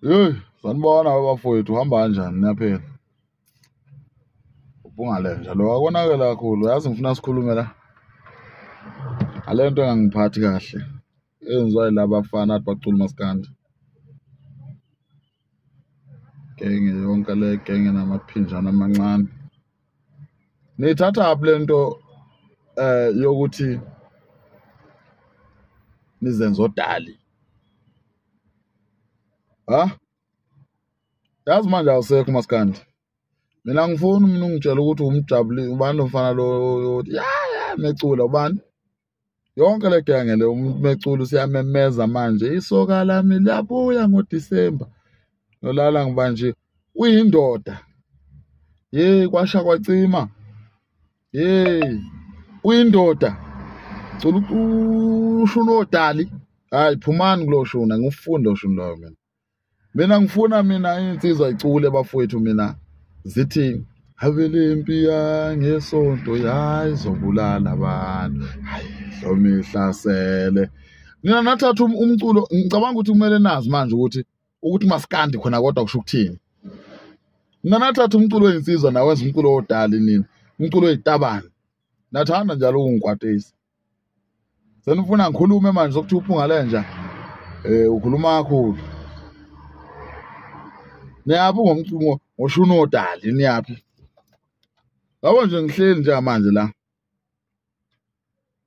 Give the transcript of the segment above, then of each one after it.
Hey, sanibona abafowethu uhamba kanjani niyaphela? Ubungalenja lo akonakela kakhulu yazi ngifuna sikhulume la. Ngale nto engangiphathi kahle eyenziwa yilaba bafana athi bacula umaskandi. Genge yonke le genge namaphinjana amancane. nithatha aphi lento eh yokuthi nizenza odali ha yazi manje awusekho maskandi mina ngifuni mina ungitshela ukuthi umjabuli ubani lomfana lo ya ya mecula ubani yonke le nto yangele umuntu mecula usiyamemeza manje isoka lami liyabuya ngodisemba nolala ngiba nje uyindoda yeyi kwasha kwacima yeyi uyindoda cula ushuna odali hhayi phumani kulo shuna ngiwufunde oshuni loyo mina mina ngifuna mina insizwa icule bafowethu mina zithi abelempi yangesonto yayizobulala abantu hayi hlomihlasele nina nathatha um-, umculo ngicabanga ukuthi kumele nazi manje ukuthi ukuthi masikandi khona kodwa kusho ukuthini nina nathatha umculo oyinsizwa nawenza umculo wodali nina umculo oyitabane nathanda njalo ukungikwatisa senifuna ngikhulume manje sokuthi uphunga lenja eh ukhuluma kakhulu niyaphi ngomcingo ngoshuni odali niyaphi yabo nje ngihleli nje manje la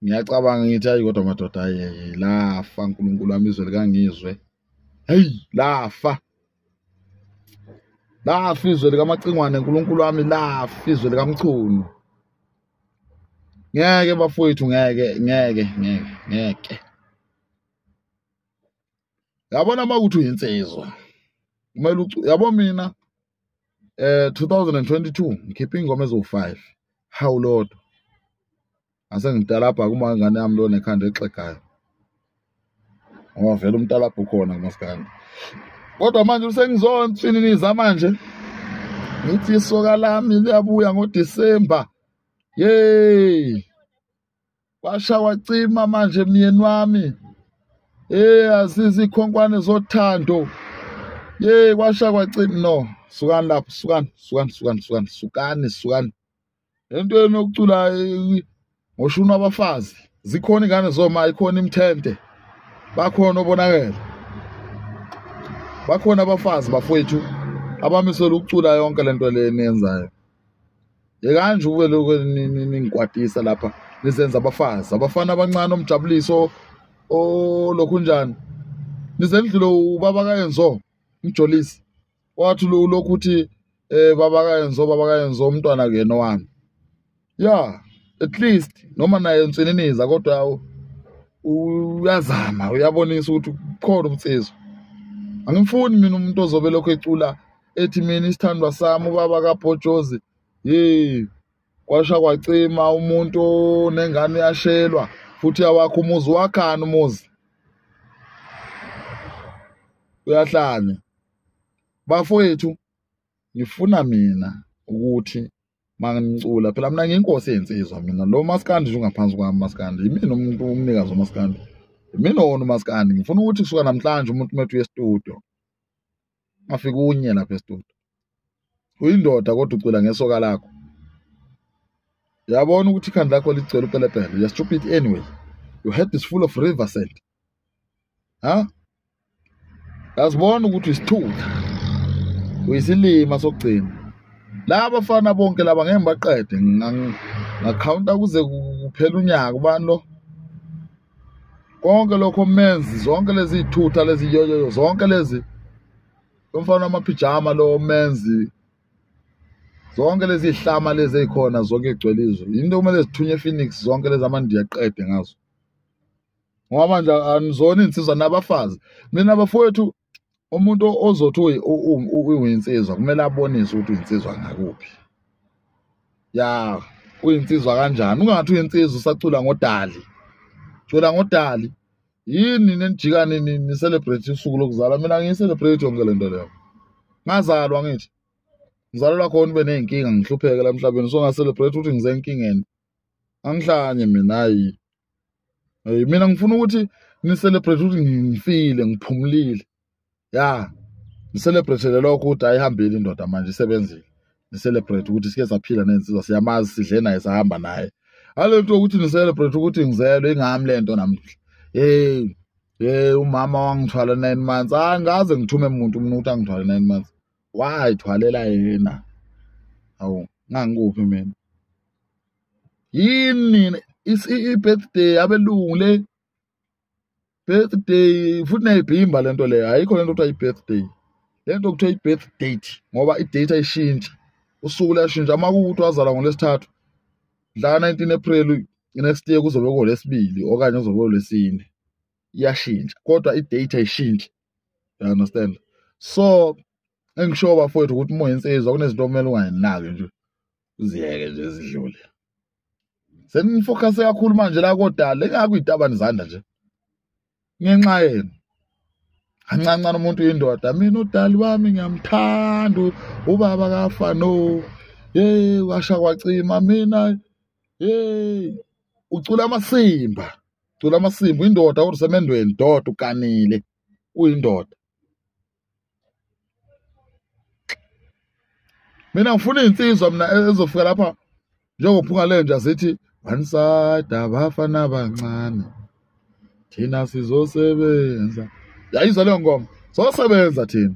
ngiyacabanga ngithi ayi kodwa madoda ayeye lafa uNkulunkulu wami izwe likangizwe hey lafa lafa izwe likamacingwane uNkulunkulu wami lafa izwe likamchunu ngeke bafowethu ngeke ngeke ngeke ngeke yabona uma ukuthi uyinsizwa kumele yabo mina eh 2022 ngikhipha ingoma ezo5 hawu lodwa asengidalabha kuma ngane yami lona ekhanda exegayo ngoba vele umtalabha ukhona kumaskandi kodwa manje usengizonsininiza manje ngithi isoka lami liyabuya ngodisemba yeyi kwasha wacima manje myeni wami yeyi azizi ikhonkwane zothando yeyi kwasha kwacima no sukani lapho sukani sukani sukani sukani sukani sukani lento yenu yokucula ngoshuna abafazi zikhona ingane zoma ikhona imthente bakhona obonakele bakhona abafazi bafowethu abamisela ukucula yonke lento le niyenzayo yekani nje ukube lokho ningikwatisa lapha nizenza abafazi abafana abancane omjabuliso olokhu njani nize ndlule ubaba kayenzo umjolisi wathi ulokhu uthi eh baba kayenzo baba kayenzo umntwana kuyena wami ya at least noma naye nsininiza kodwa uyazama uyabonisa ukuthi khona umsizo angimfuni mina umuntu ozobe lokho ecula ethi mina isithandwa sami ubaba kabhojozi hey kwasha kwacima umuntu nengane yashelwa futhi awakho umuzi wakhani umuzi uyahlanya bafowethu ngifuna mina ukuthi mangicula phela mina ngiyinkosi yensizwa mina lo maskandi nje ungaphansi kwami maskandi yimina umuntu umnikazi wamaskandi yimina wona umaskandi ngifuna ukuthi kusuka namhlanje umuntu umethu yestudio afike unye lapha estudio uyindoda kodwa ucula ngesoka lakho yabona ukuthi ikhanda lakho licela upelepele you're stupid anyway your head is full of river sand ha asibona ukuthi isithutha uyisilima sokugcina laba fana bonke laba ngeke ngibaqede ngakhawunta kuze kuphela unyaka ubani lo konke lokho menzi zonke lezi thutha lezi yoyoyo zonke lezi lomfana amaphijama lo menzi zonke lezi hlama lezi ezikhona zonke egcwele izwe yinto kumele zithunywe ePhoenix zonke lezi amandiya qede ngazo ngoba manje anizona insizwa nabafazi mina bafowethu umuntu ozothi uyinsizwa kumele abonise ukuthi uyinsizwa ngakuphi ya uyinsizwa kanjani ungathi uyinsizwa usacula ngodali cula ngodali yini nenijika nini ni-celebrate usuku lokuzalwa mina ngiyi-celebrate yonke le nto leyo ngazalwa ngithi ngizalelwa khona ube ney'nkinga ngihlupheke la mhlabeni so nga-celebrate ukuthi ngize enkingeni angihlanye mina hayi hey mina ngifuna ukuthi ni celebrate ukuthi ngifile ngiphumulile ya ni celebrate lokho ukuthi ayihambile indoda manje isebenzile ni celebrate ukuthi sike saphila nensizwa siyamazi sidle naye sahamba naye alento ukuthi ni celebrate ukuthi ngizelwe ingami lento namhla hey hey umama wangithwala 9 months angaze ngithume umuntu umuntu angithwala 9 months wayithwalela yena awu ngangikuphi mina yini i-birthday abelungu le birthday futhi neyibhimba le nto leyo ayikho le nto kuthiwa i-birthday le nto kuthiwa i-birth date ngoba i-date ayishintsha usuku luyashintsha uma kuwukuthi wazalwa ngolwesithathu la 19 april next year kuzobe kolesibili okanye kuzobe kolwesine iyashintsha kodwa i-date ayishintsha you understand so engisho bafowethu ukuthi uma insizwa kunezinto okumele ungayinaki nje uziyeke nje zidlule senifocuse kakhulu manje la kodala engakho iy'tabani izandla nje ngenxa yenu ancancane umuntu uyindoda mina udali wami ngiyamthanda ubaba kafa no hey washa kwacima mina hey ucula amasimba cula amasimba uyindoda kodwa usemendweni doda uganile uyindoda mina ngifuna iy'nsizwa mina e-, ezofika lapha njengophunga lenja zithi one side abafana abancane thina sizosebenza yayizwa leyo ngoma zosebenza thina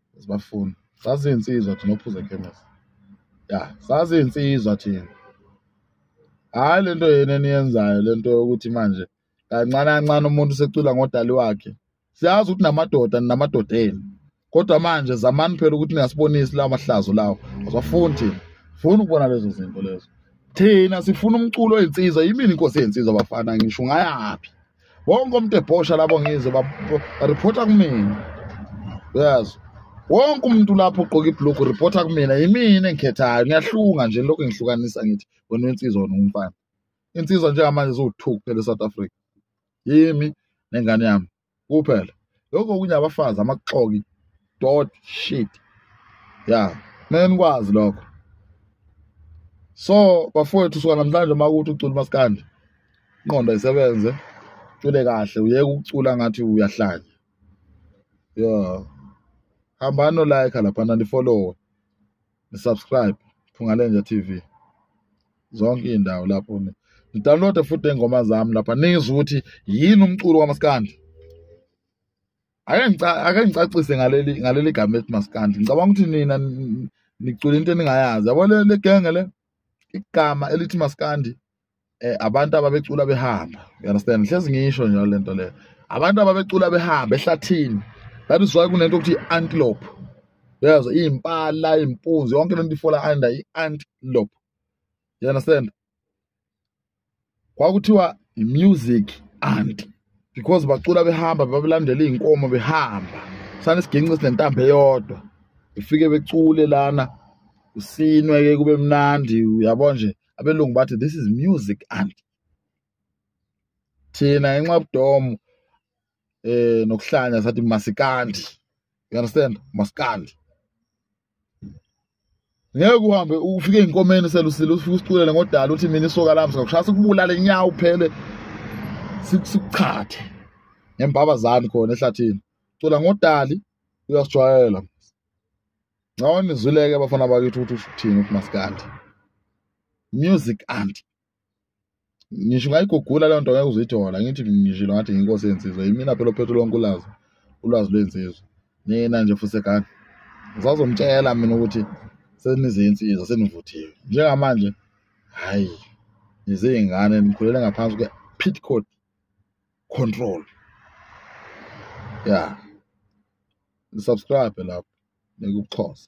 sibafuna saziyinsizwa thina ophuza ekhemesi ya saziyinsizwa thina hhayi le nto yena eniyenzayo le nto yokuthi manje kancane kancane umuntu usecula ngodali wakhe siyazi ukuthi namadoda ninamadoda enu kodwa manje zamani phela ukuthi ningasibonisi lawo mahlazo lawo asafuni thina funa ukubona lezo zinto lezo thina sifuna umculo oyinsiza yimini inkosi yey'nsizwa bafana ngisho ungayaphi wonke umuntu ebhosha lapho ngize bareporta kumina uyazi wonke umuntu lapho ugqoke ibhulukhu reporta kumina yimina engikhethayo ngiyahlunga nje lokhu ngihlukanisa ngithi wena insizwa wena umfana insizwa njengamanje ziwu-two kuphela e-south africa yimi nengane yami kuphela lokho kunye abafazi amaxoki dot shit ya kumele nikwazi lokho so bafowethu suka namhlanje uma ukuthi ucula umaskandi inqondo isebenze cule kahle uyeke ukucula ngathi uyahlanya yo hambani nolike laphana nifollowe nisubscribe phungalenja tv zonke iy'ndawo lapho nidownloade futhi iy'ngoma zami lapha nizwe ukuthi yini umculo kamaskandi ake ngicacise ngaleli ngaleli gama ethi maskandi ngicabanga ukuthi nina nicula into eningayazi yabo le genge le igama elithi maskandi eh abantu ababecula behamba you understand hlezi ngisho njalo lento le abantu ababecula behamba ehlathini that is why kunento ukuthi antelope yazo impala impunzi yonke lento ifola under i antelope you understand kwakuthiwa i-music anti because bacula behamba babelandela iy'nkomo behamba sane sigince sinentambo eyodwa befike becule lana usinwe-ke kube mnandi uyabo nje abelungu bathi this is music anti thina ngenxa yobudomo eh nokuhlanya sathi masikandi you understand masikandi ngeke uhambe ufike inkomeni selusile ufike usiculele ngodala uthi mina isoka lami sikakushaya sikubulale nyawo phele sikuchathe ngembabazani khona ehlathini cula ngodali uyasijwayela ngawona izwileke abafana bakithi ukuthi uthini umasikandi music anti ngisho ungayigugula leyo nto ngeke uzithola ngithi ngishilo ngathi nginkosi yensizwa yimina phela ophethe lonke ulwazi ulwazi lwensizwa nina nje fusekani ngizazomtshela mina ukuthi senizinsizwa senivuthiwe njengamanje hhayi nizey'ngane nikhulele ngaphansi kwe-pit code control ya nisubscribe lapho nikuxhosa